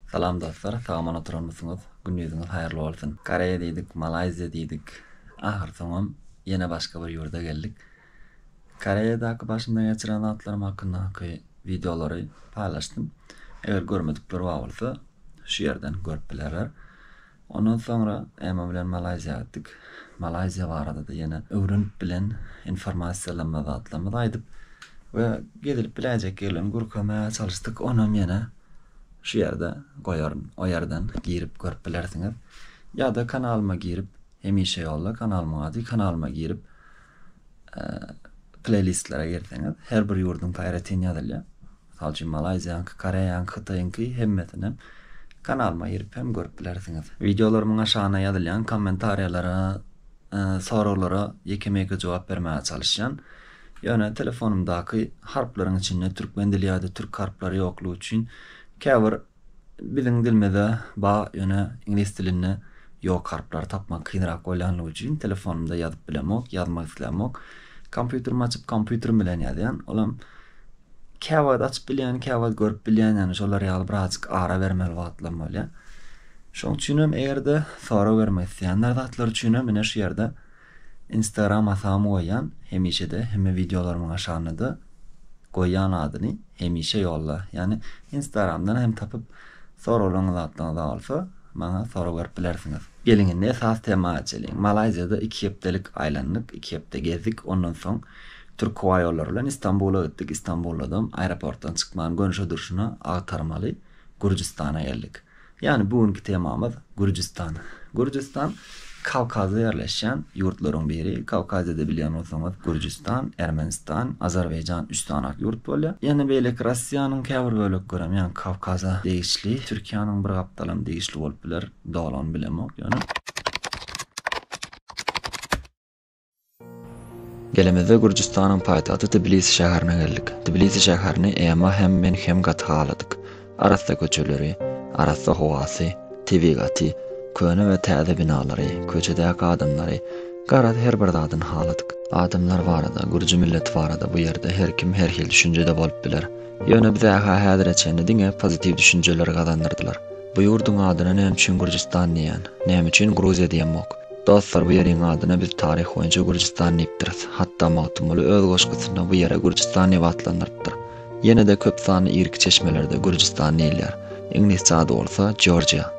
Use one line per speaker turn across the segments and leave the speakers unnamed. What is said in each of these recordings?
Salam dostlar sagamol oturanmysyňyz gündiziňiz haýyrly bolsun Koreýa diýdik Malaýziýa diýdik ahyr soňam ýene başga bir ýurda geldik Koreýadaky başymdan geçiren zatlarym hakyndaky wideolary paýlaşdym eger görmedikler bar bolsa şu ýerden görüp bilerler Ondan soňra Emma bilen Malaýziýa gitdik. Malaýziýa barada-da ýene öwrenip bilen informasiýalanma zatlarymyzy aýdyp we gezilip biläýjek ýerlerini gürkämäge çalyşdyk. Onam ýene şu ýerde goýaryn. O ýerden girip görüp bilersiňiz. Ýa-da kanalyma girip, hemişe ýolda kanalymyň ady, kanalyma girip pleýlistlere girseňiz, her bir ýurduňky aýratyn ýazylýar. Mysal üçin, malaýziýanyňky, koreýanyňky, hytaýyňky hemmesini kanalyma girip hem görüp bilersiňiz. Wideolarymyň aşagyna ýazylýan kommentariýalara, soraglara ýeke-meke jogap bermäge çalyşýan. Ýöne telefonymdaky harplaryň içinde türkmen dili ýa-da türk harplary ýoklugy üçin käbir Biziň dilimize ba ýöne iňlis dilinde ýok harplary tapmak kynrak bolýanlygy üçin telefonymda ýazyp bilemok ýazmak islämok kompýuterimi açyp kompýuterim bilen ýazýan olam käwagt açyp bilýän käwagt görüp bilýän ýany şolar ýaly birazjyk ara bermeli wagtlam bolýa şoň üçinem egerde sorag bermek isleýänler zatlar üçinem ine şu ýerde Instagram hasamy goýýan hemişede hemme wideolarymyň aşagynada goýýan adyny hemişe ýolla ýagny instagramdan hem tapyp soraglaryňyz zatlaryňyza bolsa maňa sorag berip bilersiňiz. Geliň indi esas tema geçeliň. Malaýziýada iki hepdelik aýlandyk, iki hepde gezdik, ondan soň Türk howa ýollary bilen Istanbula gitdik, Istanbuldam aeroportdan çykman gönşe durşuna agtarmaly Gürjüstana geldik. Ýagny bu günki temamyz Gürjüstan. Gürjüstan Kawkazda ýerleşýän ýurtlaryň biri. Kawkaziýada bilýän bolsaňyz Gürjüstan, Ermenistan, Azerbaýjan üç sany ak ýurt bolýar. Ýene beýleki Russiýanyň käbir böleklerem ýagny Kawkaza degişli. Türkiýäniň bir gapdalam degişli bolup biler. Dolugyny bilemok ýöne. Gelemizde Gürjüstanyň paýtagty Tbilisi şäherine geldik. Tbilisi şäherini Ema hem men hem gaty haladyk. Arassa köçeleri, arassa howasy, tebigaty, köne we täze binalary, köçedäki adamlary, garaz her bir zadyny haladyk. Adamlar barada, gürji milleti barada bu ýerde her kim her hil düşünjede bolup biler. Ýöne bize-hä häzire çenli diňe pozitiw düşünjeleri gazandyrdylar. Bu ýurduň adyna näme üçin Gürjüstan diýýän? Näme üçin Gruziýa diýemok? Dostlar bu ýeriň adyna biz taryh boýunça Gürjüstan diýipdiris. Hatda Magtymguly öz goşgusynda bu ýere Gürjüstan diýip atlandyrypdyr. Ýene-de köp sanly irki çeşmelerde Gürjüstan diýilýär. Iňlisçe ady bolsa Georgia.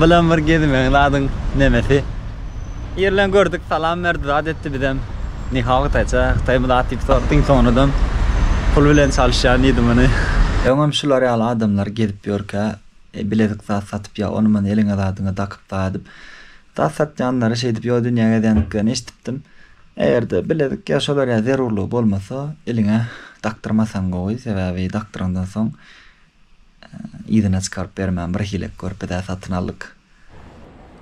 Bilen bir gezmegiň zadyň nemesi? Ýerleň gördük, salam berdi, zat etdi bizem. Nihao hytaýça, hytaýmy zat diýip soradyk. Iň soňunadam pul bilen çalyşýan diýdi muny. Öňem şular ýaly adamlar gezip ýörkä, bilezik zat satyp ýa ony-muny eliňe zadyňy dakyp daýa diýip, zat satýanlary şeýdip ýo dünýä gezýändiklerini eşidipdim. Eger-de bilezik ýa şolar ýaly zerurlygy bolmasa, eliňe dakdyrmasaň gowy, sebäbi dakdyrandan soň, Yzyna çykaryp bermän birhili körpedä satyn aldyk.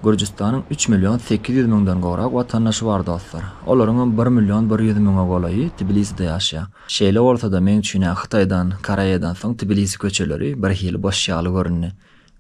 Gürjüstanyň üç million sekiz ýüz müňden gowrak watandaşy bar dostlar. Olaryňam bir million bir ýüz müňe golaýy Tbiliside ýaşaýar. Şeýle bolsa-da meň üçin-ä Hytaýdan, Koreýadan soň Tbilisi köçeleri birhili boş ýaly göründi.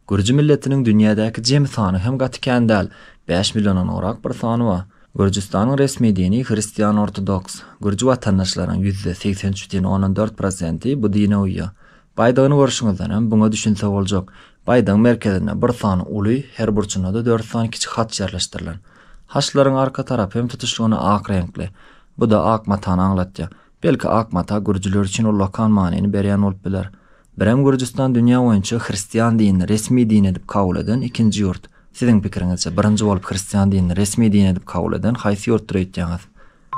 Gürji milletiniň dünýädäki jemi sany hem gaty kän däl, bäş milliondan gowrak bir sany bar. Gürjüstanyň resmi dini hristian-ortodoks. Gürji watandaşlaryň ýüzde segsen üç butyn ondan dört prosenti bu dine uýýar. Baýdagyny görşüňizdenem buňa düşünse boljak. Baýdagyň merkezinde bir sany uly, her burçunda-da dört sany kiçi haç ýerleşdirilen. Haçlaryň arka tarapy hem tutuşlygyna ak reňkli. Bu-da ak matany aňlatýar. Belki ak mata gürjüler üçin ullakan manyny berýän bolup biler. Birem Gürjüstan dünýä boýunça hristian dinini resmi din edip kabul eden ikinji ýurt. Siziň pikiriňizçe, birinji bolup hristian dinini resmi din edip kabul eden haýsy ýurtdur öýtýäňiz?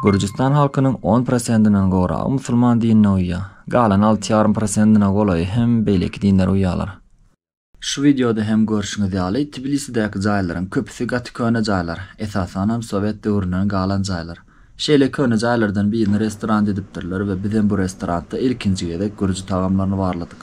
Gürjüstan halkynyň on prosentinden gowragy musulman dinine uýýar. Galan alty ýarym prosentine golaýy hem beýleki dinlere uýýarlar. Şu wideoda hem görşüňiz ýaly, Tbilisidäki jaýlaryň köpüsi gaty köne jaýlar, esasanam sowet döwründen galan jaýlar. Şeýle köne jaýlardan birini restorant edipdirler we bizem bu restorantda ilkinji gezek gürji tagamlaryny barladyk.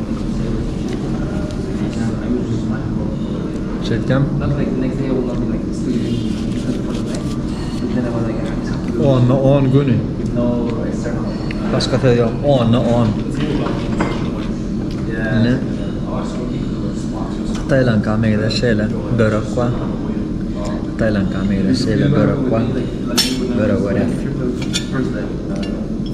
Çekýän. Onda on güni. Başka söz yok. Onda on. Ne? Tayland kamera şeyle börek var. Tayland kamera şeyle börek var. Börek var ya.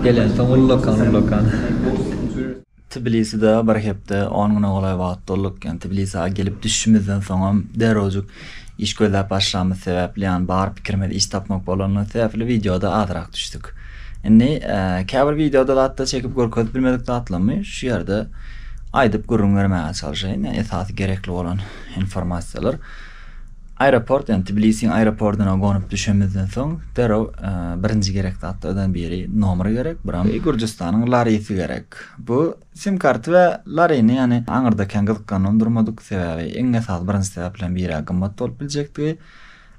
Gelensoň ullakan ullakan. Tbiliside bir hepde on güne golaý wagt bolduk. Ýani Tbilisä gelip düşşimizden soňam derrewjik iş gözläp başlamyz sebäpli ýani bar pikirimiz iş tapmak bolandygy sebäpli wideoda azrak düşdük. Indi käbir wideoda zatda çekip görkezip bilmedik zatlarymy şu ýerde aýdyp gürrüň bermäge çalşaýyn. Ýani esasy gerekli bolan informasiýalar. Aeroport, ýagny Tbilisiň aeropordyna gonup düşemizden soň, derrew birinji gerek zatlardan biri nomer gerek, buram Gürjüstanyň Larisi gerek. Bu sim karty we Larini, ýagny aňyrda kän gyzyklanylanyp durmadyk, sebäbi iň esasy birinji sebäplerden biri-ä gymmat bolup biljekdigi.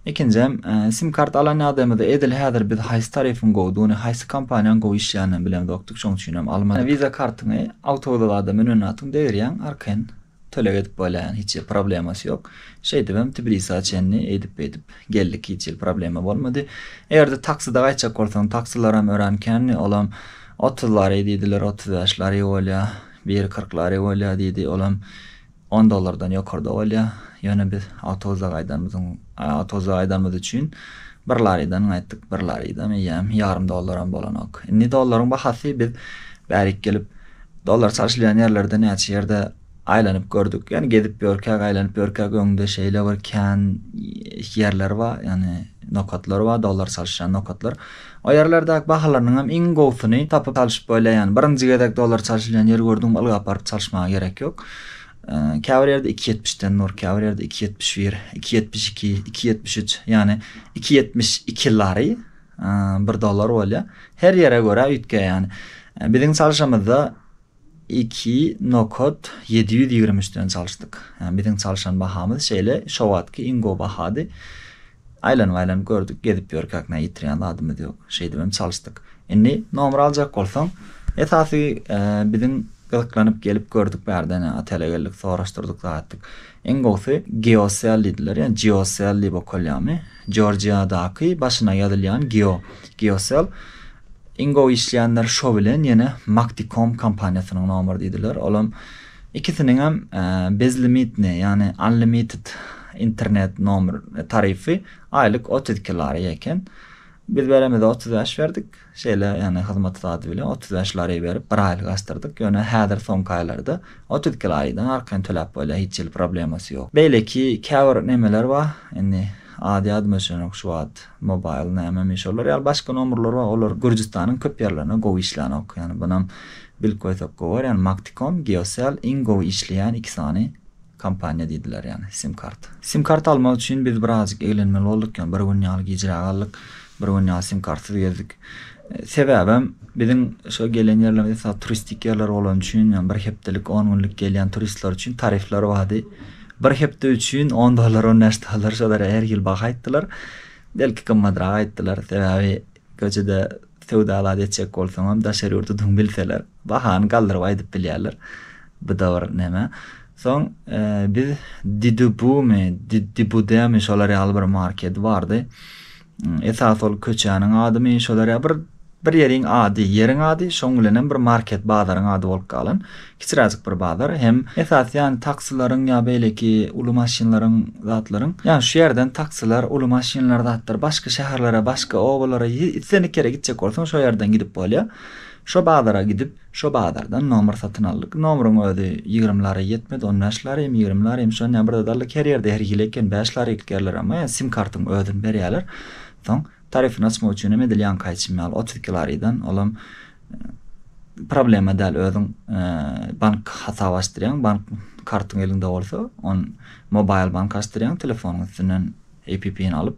Ikinjem, sim kart alan ýagdaýymyzda edil häzir biz haýsy tarifyň gowudygyny, haýsy kompaniýanyň gowy işleýändigini bilemzokdyk, şoň üçinem almadyk. Wiza kartyňy awtoulagada münenatuň degirýäň, arkaýyn Töleg edip bolýan hiç hil problemasy ýok. Şeýdibem Tbilisa çenli eýdip beýdip geldik hiç hil problema bolmady. Egerde taksida gaýtjak bolsaň taksilaram örän kändi olam otuz lari diýdiler otuz bäş lari bolýa biri kyrk lari bolýa diýdi olam on dollardan ýokarda bolýa ýöne biz awtobusda gaýdanymyzyň awtobusda gaýdanymyz üçin bir laridan gaýtdyk bir laridam eýýäm ýarym dollaram bolanok indi dollaryň bahasy biz bärik gelip Dollar çalşylýan ýerlerde näçe ýerde aýlanyp gördük. Ýani gezip ýörkäk, aýlanyp ýörkäk öňde şeýle bir kän ýerler bar, ýani nokatlar bar, dollar çalşylýan nokatlar. O ýerlerdäki bahalarynyň hem iň gowusyny tapyp çalşyp bolýar. Ýani birinji gezek dollar çalşylýan ýer gördüňmi ylgap baryp çalşmaga gerek ýok. Käbir ýerde iki ýetmiş den dur, käbir ýerde iki ýetmiş bir, iki ýetmiş iki, iki ýetmiş üç, ýani iki ýetmiş iki lari Bir dollar bolýa. Her ýere görä üýtge ýani. Biziň çalşamyzda iki nokat ýedi ýüz ýigrimi üç den çalşdyk. Ýani biziň çalşan bahamyz şeýle şo wagtky iň gowy bahady. Aýlanyp aýlanyp gördük, gezip ýörkäk nä ýitirýän zadymyz ýok. Şeýdip hem çalşdyk. Indi nomer aljak bolsaň, esasy biziň gyzyklanyp gelip gördük bärde ne otele geldik, soraşdyrdyk zat etdik. Iň gowusy Geocell diýdiler, ýa Geocell diýip okalýamy? Jorjiadaky başyna ýazylýan Geo, Geocell, Ingo işleýänler şo bilen ýene Makticom kompaniýasynyň nomer diýdiler. Olam ikisiniňem bezlimitne, ýagny unlimited internet nomer tarify aýlyk otuz iki lari eken. Biz beremizde otuz bäş berdik. Şeýle, ýagny hyzmat zady bilen otuz bäş lari berip, bir aýlyk açdyrdyk. Ýöne häzir soňky aýlarda otuz iki laridan arkaýyn töläp bolýar, hiç hili problemasy ýok. Beýleki käbir nemeler bar, indi ady ýadyma düşenok şu wagt, mobaýl nämemi, şolar ýaly başga nomerler bar, olar Gürjüstanyň köp ýerlerinde gowy işlänok. Ýagny bunam bilip goýsak gowy bolar, ýagny Maktikom, Geosel iň gowy işleýän iki sany kompaniýa diýdiler, ýagny sim-karta. Sim-karta almak üçin biz birazajyk eglenmeli bolduk, ýagny bir gün ýaly gijräk aldyk. Bir gün ýaly sim kartsyz gezdik. Sebäbem biziň şo gelen ýerlerimiz esasy turistik ýerler bolany üçin, ýa bir hepdelik, on günlük gelýän turistler üçin tarifler bardy. Bir hepde üçin on dollar, on bäş dollar şo derä her hil baha aýtdylar. Belki gymmadrak aýtdylar. Sebäbi göçede söwda-alat etjek bolsaňam daşary ýurtludygyňy bilseler. Bahany galdyryp aýdyp bilýärler. Bu da bir neme. Soň biz Didubumy, Didibudemy şolar ýaly bir market bardy. Esas ol köçäniň adymy şolar ýaly bir bir ýeriň ady, ýeriň ady, şoň bilen hem bir market bazaryň ady bolup galan. Kiçiräjik bir bazar. Hem esasy ýany taksilaryň ýa beýleki uly maşynlaryň zatlaryň. Ýani şu ýerden taksiler, uly maşynlar zatlar başga şäherlere, başga obalara islendik ýere gitjek bolsaň şo ýerden gidip bolýar. Şo bazara gidip, şo bazardan nomer satyn aldyk. Nomeriň özi ýigrimi lary ýetmedi, on bäş lary hem, ýigrimi lary hem, şony hem bir zat aldyk. Her ýerde her hili eken, bäş lary ilkärler, emma ýa sim kartyň özüni berýärler. Soň tarifini açmak üçin hem edil ýaňky aýtşym ýaly otuz iki larydan, ol hem problema däl, özüň bank hasaby açdyrýaň, bank kartyň eliňde bolsa, on mobaýl bank açdyrýaň, telefonyň üstünden App-ny alyp,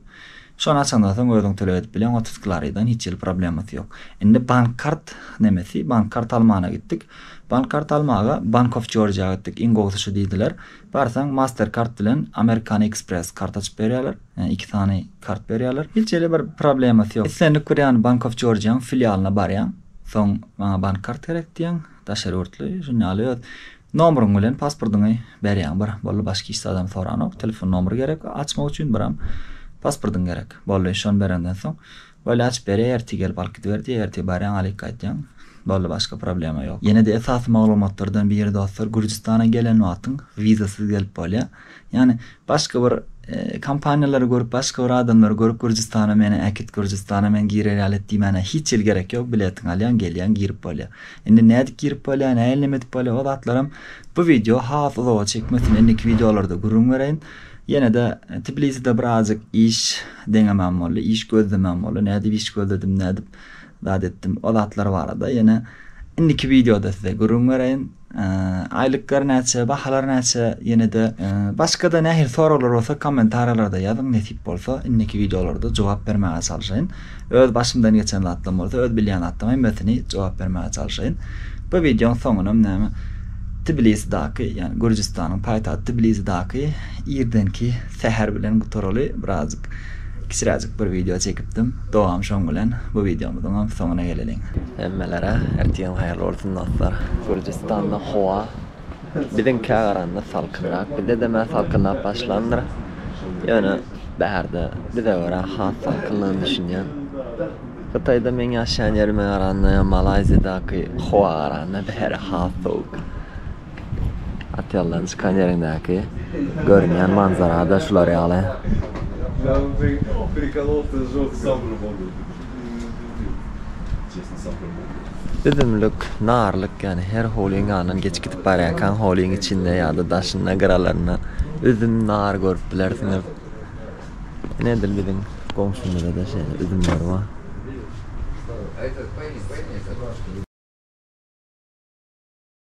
şony açandan soň özüň töleg edip bileň otuz klariýadan hiç hili problemasy ýok. Indi bank kart nemesi, bank kart almana gitdik. Bank kart almaga Bank of Georgia gitdik, iň gowusy şu diýdiler. Barsaň Master kart bilen American Express kart açyp berýärler, ýagny iki sany kart berýärler. Hiç hili bir problemasy ýok. Islendik bir ýany Bank of Georgia-nyň filialyna barýaň, soň maňa bank kart gerek diýýäň, daşary ýurtly, şuny ýaly öz Nomeryň bilen pasportyňy berýäň bir boldy başga hiç zadam soranok telefon nomery gerek açmak üçin biram pasportyň gerek boldy şony berenden soň boýly açyp berýär ertir gelip alyp gidiber diýýär ertir barýaň alyk aýdýaň boldy başga problema ýok. Ýene-de esasy maglumatlardan biri dostlar Gürjistana gelen wagtyň wizasyz gelip bolýar. Ýani başga bir kompaniýalary görüp başga bir adamlary görüp Gürjistana meni äkit Gürjistana men girer ýaly et diýmäne hiç hili gerek ýok biletiňi alýaň gelýäň girip bolýa. Indi nädip girip bolýa näil neme edip bolýa o zatlaram bu wideo has uzaga çekmesin indiki wideolarda gürrüň bereýin. Ýenede Tbiliside bir azjyk iş deňemem boldy iş gözlemem boldy nädip iş gözledim nädip zat etdim o zatlar barada ýene indiki wideoda size gürrüň bereýin. Aýlyklar näçe, bahalar näçe ýenede başgada nähili soraglar bolsa kommentariýalarda ýazyň nesip bolsa indiki wideolarda jogap bermäge çalyşaýyn. Öz başymdan geçen zatlam bolsa öz bilýän zatlam hemmesini jogap bermäge çalyşaýyn. Bu wideoň soňunam näme Tbilisidaki ýani Gürjistanyň paýtagty Tbilizidaky irdenki säher bilen gutaraly birazjyk Kiçiräjik bir wideo çekipdim. Dowam şoň bilen bu wideomyzyňam soňuna geleliň. Hemmelere ertigiň haýyrly bolsun dostlar. Gürjüstanda howa biziňkä garanda salkynrak. Bizde demä salkynlap başlandyr. Ýöne bärde bize görä has salkynlygyny düşünýän. Hytaýda meň ýaşaýan ýerime garanda ýa Malaýziýadaky howa garanda bäri has sowuk. Otellaryň çykan ýeriňdäki görünýän manzara-da şular ýaly. Üzümlik, narlyk, ýagny her howlyň ýanyndan geçip gidip barýarkaň howlyň içinde ýa-da daşynda, gyralarynda üzüm, nar görüp bilersiňiz. Ine edil biziň goňşymyzda-da şeýle üzümler bar.